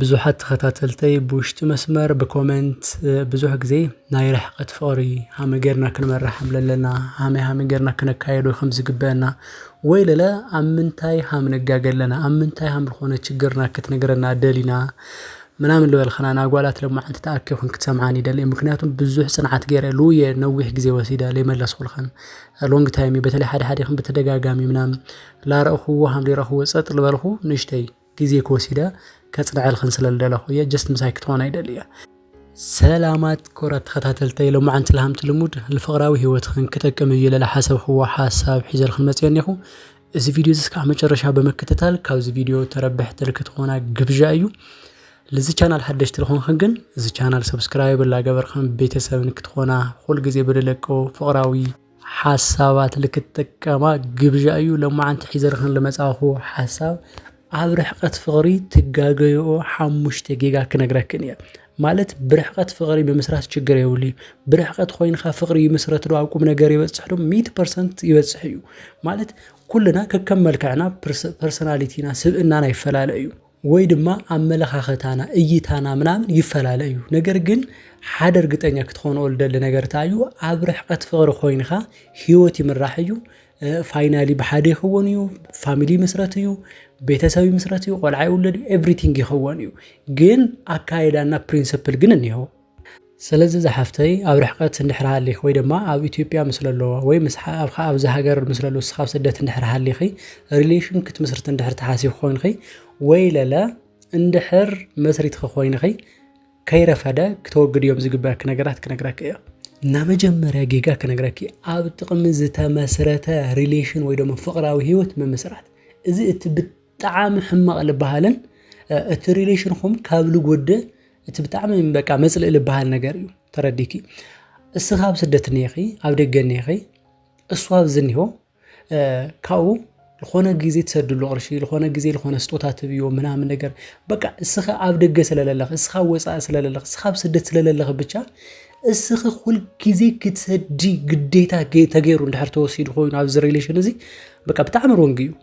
ብዙሓት ተኸታተልተይ ብውሽጢ መስመር ብኮመንት ብዙሕ ግዜ ናይ ርሕቀት ፍቕሪ ሃመ ጌርና ክንመርሓም ለለና ሃመይ ሃመይ ጌርና ክነካየዶ ከም ዝግበአና ወይ ለለ ኣብ ምንታይ ሃም ንጋገ ኣለና ኣብ ምንታይ ሃም ልኾነ ችግርና ክትነግረና ደሊና ምናምን ልበልክና ናጓላት ለማዓንቲ ተኣኪብክን ክትሰምዓን ይደሊ ምክንያቱም ብዙሕ ጽንዓት ጌረ ልውየ ነዊሕ ግዜ ወሲደ ለይመለስኹልክን ሎንግ ታይም እዩ በተለይ ሓደ ሓዲኽን ብተደጋጋሚ ምናምን ላረእኹዎ ሃም ለይረኽብዎ ጸጥ ልበልኹ ንእሽተይ። ግዜ ክወሲደ ከጽንዐልክን ስለ ልደለኩ እየ ጀስት ምሳይ ክትኮና ይደሊ እየ። ሰላማት ክቡራት ተኸታተልተይ ሎማዓንቲ ልሃምቲ ልሙድ ልፍቕራዊ ሂወትኽን ክጠቅም እዩ ኢለ ልሓሰብክዎ ሓሳብ ሒዘልክን መጽየ እኔኹ እዚ ቪድዮ እዚ እስካዕ መጨረሻ ብምክትታል ካብዚ ቪድዮ ተረብሕቲ ልክትኾና ግብዣ እዩ ልዚ ቻናል ሓደሽቲ ልኾንክን ግን እዚ ቻናል ሰብስክራይብ ላገበርክን ቤተሰብ ንክትኾና ኩል ግዜ ብልለቀው ፍቕራዊ ሓሳባት ልክትጥቀማ ግብዣ እዩ ለማዓንቲ ሒዘ ልኽን ልመጻኹ ሓሳብ ኣብ ርሕቐት ፍቕሪ ትጋገይኦ ሓሙሽተ ጌጋ ክነግረክን እየ። ማለት ብርሕቐት ፍቕሪ ምምስራት ችግር የብሉ እዩ ብርሕቐት ኮይንካ ፍቕሪ ይምስረት ዶ ኣብ ቁም ነገር ይበጽሕ ዶ ሚእቲ ፐርሰንት ይበጽሕ እዩ። ማለት ኩልና ከከም መልክዕና ፐርሰናሊቲና ስብእናና ይፈላለ እዩ። ወይ ድማ ኣመለኻኸታና እይታና ምናምን ይፈላለ እዩ ነገር ግን ሓደ እርግጠኛ ክትኾንኦ ልደሊ ነገር እንታይ እዩ ኣብ ርሕቐት ፍቕሪ ኮይንኻ ህይወት ይምራሕ እዩ ፋይናሊ ብሓደ ይኸውን እዩ ፋሚሊ ይምስረት እዩ ቤተሰብ ይምስረት እዩ ቆልዓ ይውለድ እዩ ኤቭሪቲንግ ይኸውን እዩ ግን ኣካይዳና ፕሪንስፕል ግን እኒሀው ሰለዚ ዝሓፍተይ ኣብ ርሕቀት እንድሕር ሃሊኪ ወይ ድማ ኣብ ኢትዮጵያ ምስ ለሎ ወይ ምስ ሓኣብካ ኣብዚ ሃገር ምስ ለሎ ንስኪ ኣብ ስደት እንድሕር ሃሊኪ ሪሌሽን ክትምስርቲ እንድሕር ትሓስቢ ኮይንኪ ወይ ለለ እንድሕር መስሪትኪ ኮይንኪ ከይረፈደ ክተወግድዮም ዝግበኣኪ ነገራት ክነግረኪ እየ። እና መጀመርያ ጌጋ ክነግረኪ ኣብ ጥቅሚ ዝተመስረተ ሪሌሽን ወይ ደሞ ፍቅራዊ ሂወት ምምስራት እዚ እቲ ጠዓሚ ሕማቅ ልባሃልን እቲ ሪሌሽንኹም ካብ ልጎድእ እቲ ብጣዕሚ በቃ መጽልኢ ልባሃል ነገር እዩ ተረዲኪ እስኻ ኣብ ስደት ኔኺ ኣብ ደገ ኔኺ እሱ ኣብዚ ኒሆ ካብኡ ዝኾነ ግዜ ትሰድሉ ቅርሺ ዝኾነ ግዜ ዝኾነ ስጦታ ትብዮ ምናምን ነገር በቃ እስኻ ኣብ ደገ ስለለለኽ እስኻ ወፃኢ ስለለለኽ እስኻ ኣብ ስደት ስለለለኽ ብቻ እስኺ ኩል ግዜ ክትሰዲ ግዴታ ተገይሩ እንድሕር ተወሲዱ ኮይኑ ኣብዚ ሪሌሽን እዚ በቃ ብጣዕሚ ሮንግ እዩ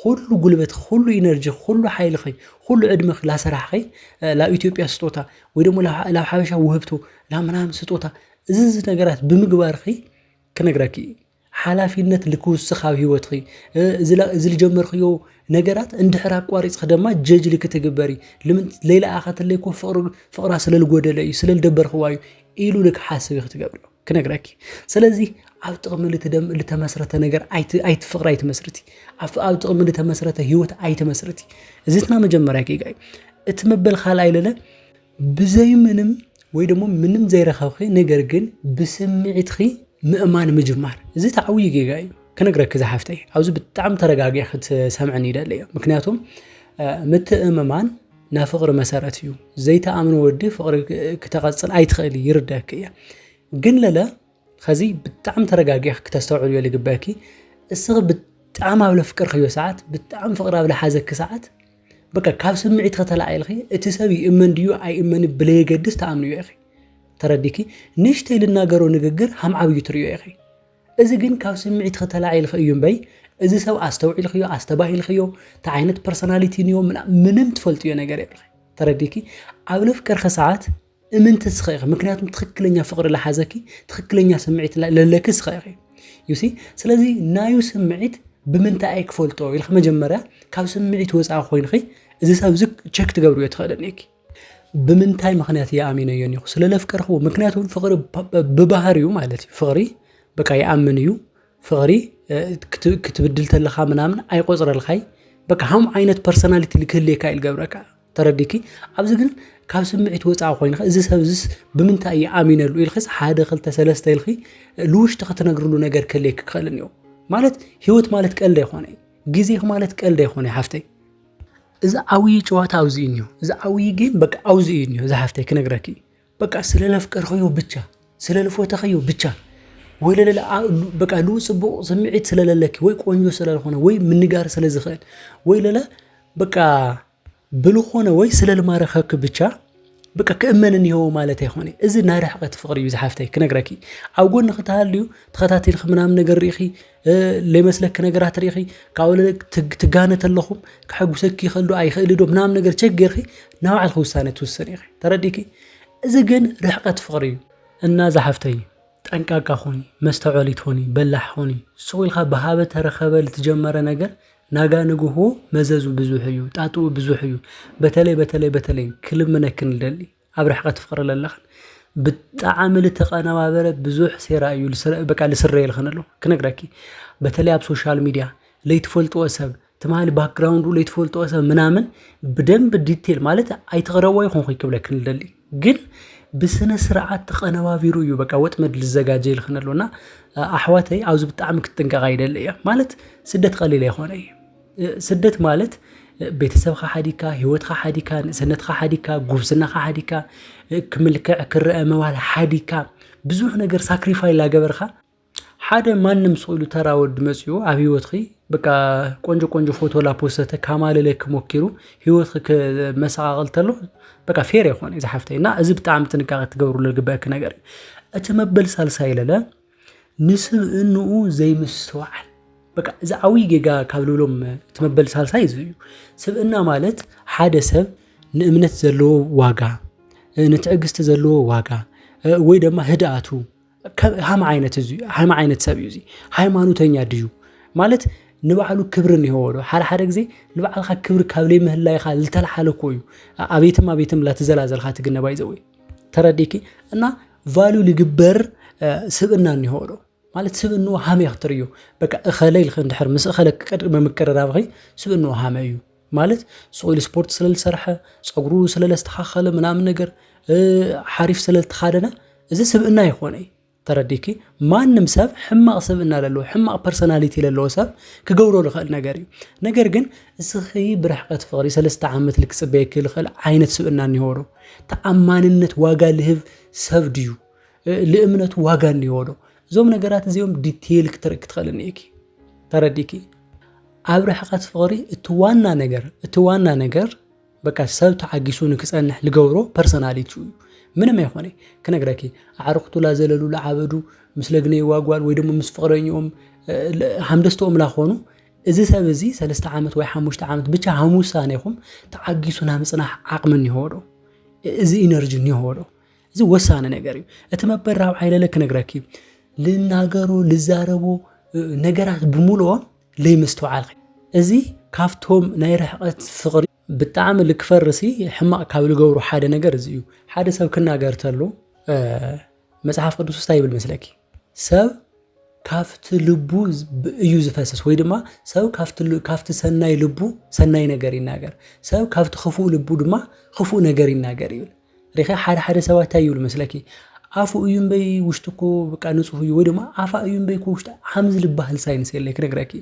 ኹሉ ጉልበት ኹሉ ኢነርጂ ኹሉ ሓይልኺ ኹሉ ዕድመኺ ላሰራሕኺ ላብ ኢትዮጵያ ስጦታ ወይ ደሞ ላብ ሓበሻ ውህብቶ ላብ ምናምን ስጦታ እዚ እዚ ነገራት ብምግባርኺ ክነግረኪ እዩ ሓላፊነት ልክውስኽ ኣብ ሂወትኺ እዚ ልጀመርክዮ ነገራት እንድሕር ኣቋሪፅኺ ደማ ጀጅ ልክትግበሪ ለይለኣኸትለይ እኮ ፍቕራ ስለልጎደለ እዩ ስለልደበርክዋ እዩ ኢሉ ልክሓስብ እዩ ክትገብርዮ። ክነግረኪ ስለዚ ኣብ ጥቕሚ ልተመስረተ ነገር ኣይትፍቕሪ ኣይትመስርቲ ኣብ ጥቕሚ ልተመስረተ ህይወት ኣይትመስርቲ እዚትና መጀመርያ ጌጋዩ እቲ መበል ካልኣይ ለለ ብዘይ ምንም ወይ ደግሞ ምንም ዘይረኸብኺ ነገር ግን ብስምዒትኺ ምእማን ምጅማር እዚ ተዓብዩ ጌጋ እዩ ክነግረኪ ዝሓፍተይ ኣብዚ ብጣዕሚ ተረጋጊ ክትሰምዕን ይደለየ ምክንያቱም ምትእምማን ናይ ፍቕሪ መሰረት እዩ ዘይተኣምኑ ወዲ ፍቕሪ ክተቐፅል ኣይትኽእል ይርደክ እየ ግን ለለ ከዚ ብጣዕሚ ተረጋጊሕ ክተስተውዕሉ እዮ ልግበኪ እስኺ ብጣዕሚ ኣብ ለፍቅር ክዮ ሰዓት ብጣዕሚ ፍቕሪ ኣብ ለሓዘኪ ሰዓት በቃ ካብ ስምዒት ከተላዒልኺ እቲ ሰብ ይእመን ድዩ ኣይእመን ብለየገድስ ተኣምንዮ ኢኺ ተረዲኪ ንሽተይ ልናገሮ ንግግር ሃም ዓብዩ ትርእዮ ኢኺ እዚ ግን ካብ ስምዒትኺ ተላዒልኺ እዩ እምበይ እዚ ሰብ ኣስተውዒልኽዮ ኣስተባሂልኽዮ እንታይ ዓይነት ፐርሶናሊቲ እንዮ ምንም ትፈልጥዮ ነገር የብልኺ ተረዲኪ ኣብ ለፍቀርኺ ሰዓት እምንቲ ስኸ ኢኺ ምክንያቱም ትኽክለኛ ፍቕሪ ለሓዘኪ ትኽክለኛ ስምዒት ለለኪ ስኸ ኢኺ ዩሲ ስለዚ ናዩ ስምዒት ብምንታይ ክፈልጦ ኢልኪ መጀመርያ ካብ ስምዒት ወፃኢ ኮይንኺ እዚ ሰብ እዚ ቸክ ትገብርዮ ትኽእልን ኢኪ ብምንታይ ምክንያት እየ ኣሚነዮ እኒኹ ስለ ለፍቀርክዎ ምክንያቱ ፍቅሪ ብባህርዩ ማለት እዩ ፍቅሪ በቃ ይኣምን እዩ ፍቅሪ ክትብድል ተለካ ምናምን ኣይቆፅረልካይ በቃ ሃም ዓይነት ፐርሶናሊቲ ልክህልየካ እዩ ልገብረካ ተረዲኪ ኣብዚ ግን ካብ ስምዒት ወፃኢ ኮይኑ እዚ ሰብ እዚስ ብምንታይ እየ ኣሚነሉ ኢልክስ ሓደ ክልተ ሰለስተ ኢልኪ ልውሽጢ ክትነግርሉ ነገር ክህልየ ክኽእልን እዩ ማለት ህይወት ማለት ቀልዲ ኣይኮነ ግዜኺ ማለት ቀልዲ ኣይኮነ ሓፍተይ እዚ ዓብዪ ጨዋታ ኣብዚ እዩ እኒሆ። እዚ ዓብዪ ጌም በቃ ኣብዚ እዩ እኒሆ። እዚ ሓፍተይ ክነግረኪ በቃ ስለ ለፍቀርኸዮ ብቻ ስለ ልፎተኸዮ ብቻ ወይ ለለለ በቃ ልኡ ፅቡቕ ስምዒት ስለለለኪ ወይ ቆንጆ ስለልኾነ ወይ ምንጋር ስለ ዝኽእል ወይ ለለ በቃ ብልኾነ ወይ ስለ ልማረኸኪ ብቻ ብቃ ክእመን እኒሆ ማለት ኣይኮነ እዚ ናይ ርሕቀት ፍቅሪ እዩ ዝሓፍተይ ክነግረኪ ኣብ ጎኒ ክተሃልዩ ተኸታቲልኺ ምናምን ነገር ርኢኺ ለይመስለኪ ነገራት ርኢኺ ካብኡ ትጋነ ተለኹም ክሐጉሰኪ ይኸእልዶ ኣይኽእልዶ ምናምን ነገር ቸክ ጌርኺ ናብ ባዕልኺ ውሳነ ትውሰን ኢኺ ተረዲኪ እዚ ግን ርሕቀት ፍቅሪ እዩ እና ዝሓፍተይ ጠንቃቃ ኾኒ መስተውዐሊት ኾኒ በላሕ ኾኒ ስቁኢልካ ብሃበ ተረኸበ ልትጀመረ ነገር ናጋ ንግሆ መዘዙ ብዙሕ እዩ ጣጡኡ ብዙሕ እዩ በተለይ በተለይ በተለይ ክልምነኪ ንደሊ ኣብ ርሕቀት ትፍቅሪ ለለክን ብጣዕሚ ልተቀነባበረ ብዙሕ ሴራ እዩ በቃ ልስረየልክን ኣሎ ክነግረኪ በተለይ ኣብ ሶሻል ሚድያ ለይትፈልጥዎ ሰብ ትማሊ ባክግራውንዱ ለይትፈልጥዎ ሰብ ምናምን ብደንቢ ዲቴል ማለት ኣይትቅረብዎ ኣይኮንኩይ ክብለኪ ልደሊ ግን ብስነ ስርዓት ተቀነባቢሩ እዩ በቃ ወጥመድ ልዘጋጀ ኢልክን ኣሎ እና ኣሕዋተይ ኣብዚ ብጣዕሚ ክትጥንቀቃ ይደሊ እየ ማለት ስደት ቀሊል ኣይኮነ እዩ ስደት ማለት ቤተሰብካ ሓዲካ ሂወትካ ሓዲካ ንእሰነትካ ሓዲካ ጉብዝናካ ሓዲካ ክምልክዕ ክረአ ምባል ሓዲካ ብዙሕ ነገር ሳክሪፋይ ላገበርካ ሓደ ማንም ስኢሉ ተራ ወዲ መጺኡ ኣብ ህይወትኺ በቃ ቆንጆ ቆንጆ ፎቶ ላፖሰተ ካማልለኪ ሞኪሩ ህይወትኺ መሰቓቕል ተሎ በቃ ፌር ኣይኮነ እዚ ሓፍተይ እና እዚ ብጣዕሚ ጥንቃቐ ትገብርሉ ዝግበአኪ ነገር እዩ። እቲ መበል ሳልሳይ ለለ ንስብእንኡ ዘይምስትውዓል በቃ እዚ ዓብዪ ጌጋ ካብ ልብሎም እቲ መበል ሳልሳይ እዚ እዩ። ስብእና ማለት ሓደ ሰብ ንእምነት ዘለዎ ዋጋ፣ ንትዕግስቲ ዘለዎ ዋጋ ወይ ድማ ህድኣቱ ሃም ዓይነት እዚ ሃም ዓይነት ሰብ እዩ እዚ ሃይማኖተኛ ድዩ ማለት ንባዕሉ ክብሪ እኒሄዎ ዶ ሓደ ሓደ ግዜ ንባዕልካ ክብሪ ካብ ለይ ምህላይካ ዝተልሓለ እኮ እዩ ኣቤትም ኣቤትም ላትዘላዘልካ ትግነባ ይዘው ተረዲኪ እና ቫሉ ልግበር ስብእና እኒሄዎ ዶ ማለት ስብእንኡ ሃመ ክትርእዮ በቃ እኸለ ኢልክ እንድሕር ምስ እኸለ ቅድሚ ምቅርራብኺ ስብእንኡ ሃመ እዩ ማለት ሶይል ስፖርት ስለዝሰርሐ ፀጉሩ ስለለስተኻኸለ ምናምን ነገር ሓሪፍ ስለዝተኻደነ እዚ ስብእና ይኾነ እዩ ተረዲኪ ማንም ሰብ ሕማቕ ስብእና ለለዎ ሕማቕ ፐርሶናሊቲ ለለዎ ሰብ ክገብሮ ዝኽእል ነገር እዩ ነገር ግን እስኺ ብርሕቀት ፍቕሪ ሰለስተ ዓመት ልክፅበየኪ ዝኽእል ዓይነት ስብእና እኒሆ ዶ ተኣማንነት ዋጋ ልህብ ሰብ ድዩ ልእምነቱ ዋጋ እኒሆ ዶ እዞም ነገራት እዚኦም ዲቴይል ክትርኢ ክትኽእል እኒኢኪ ተረዲኪ ኣብ ርሕቀት ፍቅሪ እቲ ዋና ነገር እቲ ዋና ነገር በቃ ሰብ ተዓጊሱ ንክጸንሕ ልገብሮ ፐርሰናሊቲኡ እዩ ምንም ኣይኮነ ክነግረኪ ኣዕርክቱ ላዘለሉ ልዓበዱ ምስ ለግነይዋ ጓል ወይ ደሞ ምስ ፍቅረኝኦም ሃምደስተኦም ላኾኑ እዚ ሰብ እዚ ሰለስተ ዓመት ወይ ሓሙሽተ ዓመት ብቻ ሃም ውሳነ ይኹም ተዓጊሱ ናይ ምፅናሕ ዓቕሚ እኒሆ ዶ እዚ ኢነርጂ እኒሆ ዶ እዚ ወሳነ ነገር እዩ እቲ መበል ራብዓይ ለለ ክነግረኪ ልናገሮ ልዛረቦ ነገራት ብምልኦም ለይምስትውዓልኪ እዚ ካብቶም ናይ ርሕቀት ፍቅሪ ብጣዕሚ ልክፈርሲ ሕማቅ ካብ ልገብሩ ሓደ ነገር እዚ እዩ ሓደ ሰብ ክናገር ተሎ መጽሓፍ ቅዱስ ውስታ ይብል መስለኪ ሰብ ካብቲ ልቡ እዩ ዝፈስስ ወይ ድማ ሰብ ካብቲ ሰናይ ልቡ ሰናይ ነገር ይናገር ሰብ ካብቲ ክፉእ ልቡ ድማ ክፉእ ነገር ይናገር ይብል ሪኺ ሓደ ሓደ ሰባት እንታይ ይብሉ መስለኪ ኣፉ እዩ እምበይ ውሽጡ እኮ በቃ ንጹህ እዩ ወይ ድማ ኣፋ እዩ እምበይ እኮ ውሽጢ ሓምዝ ልባህል ሳይንስ የለ ክነግረኪ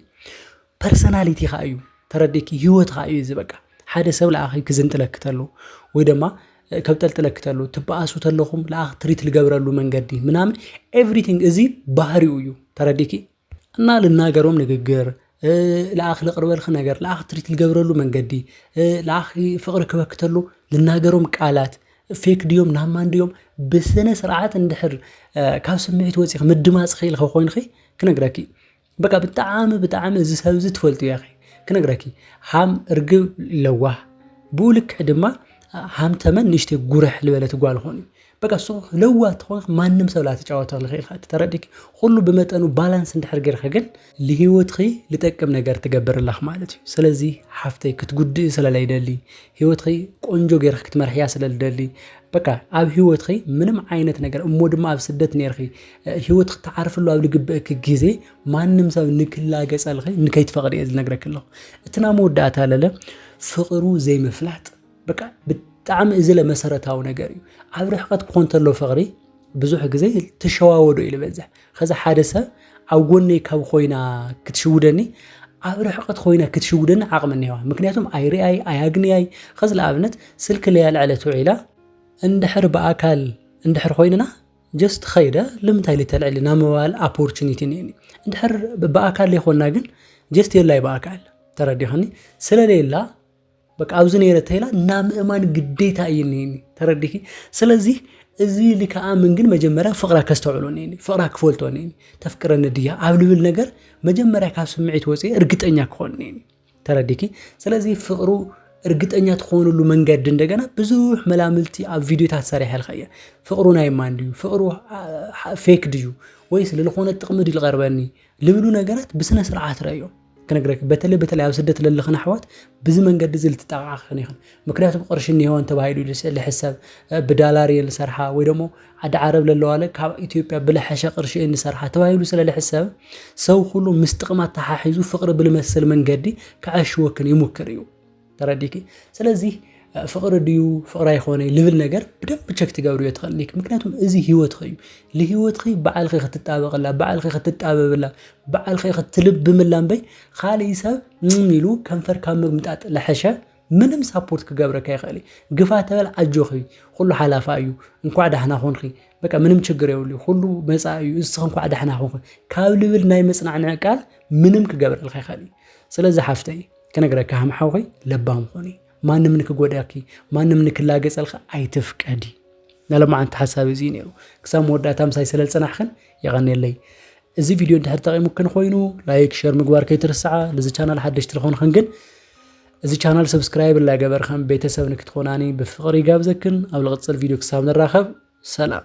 ፐርሰናሊቲ ከዓ እዩ ተረዲኪ ህይወት ከዓ እዩ እዚ በቃ ሓደ ሰብ ለኣኺ ክዝንጥለኪ ተሎ ወይ ድማ ከብ ጠልጥለኪ ተሎ ትበኣሱ ተለኹም ለኣኽ ትሪት ልገብረሉ መንገዲ ምናምን ኤቭሪቲንግ እዚ ባህሪኡ እዩ ተረዲኪ እና ልናገሮም ንግግር ለኣኽ ልቕርበልኺ ነገር ለኣኽ ትሪት ልገብረሉ መንገዲ ለኣኽ ፍቕሪ ክበክተሉ ልናገሮም ቃላት ፌክ ድዮም ናማን ድዮም ብስነ ስርዓት እንድሕር ካብ ስምዒት ወፂኺ ምድማፅ ኽኢልኺ ኮይንኺ ክነግረኪ እዩ። በቃ ብጣዕሚ ብጣዕሚ እዚ ሰብ እዚ ትፈልጥዮ ኢኺ ክነግረኪ ሃም እርግብ ለዋህ ብኡ ልክዕ ድማ ሃም ተመን ንእሽተይ ጉርሕ ዝበለት ጓል ኾን እዩ በቃ እሱ ለዋት ተኾንክ ማንም ሰብ ላተጫወተኽ ልኽእል ኢኻ ተረዲክ ኹሉ ብመጠኑ ባላንስ እንድሕር ጌርካ ግን ልሂወትኺ ልጠቅም ነገር ትገብር ኣለኽ ማለት እዩ ስለዚ ሓፍተይ ክትጉድኢ ስለ ለይደሊ ሂወትኺ ቆንጆ ጌርክ ክትመርሕያ ስለ ልደሊ በቃ ኣብ ሂወትኺ ምንም ዓይነት ነገር እሞ ድማ ኣብ ስደት ኔርኺ ሂወትኺ ትዓርፍሉ ኣብ ልግበእኪ ግዜ ማንም ሰብ ንክላገጸልኺ ንከይትፈቕዲ እየ ዝነግረኪ ኣለኹ እቲ ናይ መወዳእታ ለለ ፍቕሩ ዘይምፍላጥ በቃ ብጣዕሚ እዝለ መሰረታዊ ነገር እዩ ኣብ ርሕቀት ክኾን ተሎ ፍቕሪ ብዙሕ ግዜ ትሸዋወዶ እዩ ዝበዝሕ ከዚ ሓደ ሰብ ኣብ ጎነይ ካብ ኮይና ክትሽውደኒ ኣብ ርሕቀት ኮይና ክትሽውደኒ ዓቕሚ እኒዋ ምክንያቱም ኣይርኣይ ኣያግንያይ ከዚ ንኣብነት ስልኪ ለያልዕለት ውዒላ እንድሕር ብኣካል እንድሕር ኮይንና ጀስት ኸይደ ልምንታይ ልተልዕሊ ናብ ምባል ኣፖርቹኒቲ እኒኒ እንድሕር ብኣካል ዘይኮንና ግን ጀስት የላይ ብኣካል ተረዲኸኒ ስለሌላ በቃ ኣብዚ ነይረ ተይላ እና ምእማን ግዴታ እዩ እኒኒ ተረዲኪ ስለዚህ እዚ ኢሊ ከኣምን ግን መጀመርያ ፍቕራ ከስተውዕሎ እኒኒ ፍቕራ ክፈልጦ እኒኒ ተፍቅረኒ ድያ ኣብ ልብል ነገር መጀመርያ ካብ ስምዒት ወፂ እርግጠኛ ክኾን እኒኒ ተረዲኪ ስለዚህ ፍቕሩ እርግጠኛ ትኾንሉ መንገዲ እንደገና ብዙሕ መላምልቲ ኣብ ቪዲዮታት ሰሪሐ ልካ እየ ፍቕሩ ናይ ማን ድዩ ፍቕሩ ፌክ ድዩ ወይስ ልልኾነ ጥቕሚ ድዩ ልቐርበኒ ልብሉ ነገራት ብስነ ስርዓት ረዮ ክነግረኪ በተለይ በተለይ ኣብ ስደት ለለኽን ኣሕዋት ብዚ መንገዲ እዚ ልትጠቃዓ ክኽን ይኽን ምክንያቱ ብቅርሺ እኒሄወን ተባሂሉ ልሕሰብ ብዳላር እየን ዝሰርሓ ወይ ደሞ ዓዲ ዓረብ ለለዋለ ካብ ኢትዮጵያ ብለሐሸ ቅርሺ እየን ዝሰርሓ ተባሂሉ ስለ ልሕሰብ ሰው ኩሉ ምስ ጥቅማ ተሓሒዙ ፍቅሪ ብልመስል መንገዲ ከዐሽወክን ይሙክር እዩ ተረዲኪ ስለዚ ፍቕሪ ድዩ ፍቕሪ ኣይኮነ ልብል ነገር ብደንብ ቸክ ትገብርዮ ትኽእል ኒክ ምክንያቱም እዚ ህይወትኺ እዩ ንህይወትኺ በዓልኺ ክትጣበቕላ በዓልኺ ክትጣበብላ በዓልኺ ክትልብምላ እምበይ ካልእ ሰብ ም ኢሉ ከንፈር ካብ ምግምጣጥ ለሐሸ ምንም ሳፖርት ክገብረካ ይኽእል እዩ ግፋ ተበል ኣጆኺ ኩሉ ሓላፋ እዩ እንኳዕ ዳሕና ኾንኺ በቃ ምንም ችግር የብሉ ኩሉ መፃ እዩ እስኺ እንኳዕ ዳሕና ኾንኺ ካብ ልብል ናይ መፅናዕንዕ ቃል ምንም ክገብረልካ ይኽእል እዩ ስለዚ ሓፍተይ ክነግረኪ ሃም ሓውኺ ለባም ኹኒ ማንም ንክጎዳኪ ማንም ንክላገጸልኺ ኣይትፍቀዲ ናሎማዓንቲ ሓሳብ እዚ ነይሩ ክሳብ መወዳእታ ምሳይ ስለ ዝጸናሕክን የቐኔለይ እዚ ቪድዮ እንድሕር ጠቂሙክን ኮይኑ ላይክ ሸር ምግባር ከይትርስዓ ነዚ ቻናል ሓደሽቲ ዝኾንክን ግን እዚ ቻናል ሰብስክራይብ ላገበርክን ቤተሰብ ንክትኾናኒ ብፍቕሪ ይጋብዘክን ኣብ ልቕፅል ቪድዮ ክሳብ ንራኸብ ሰላም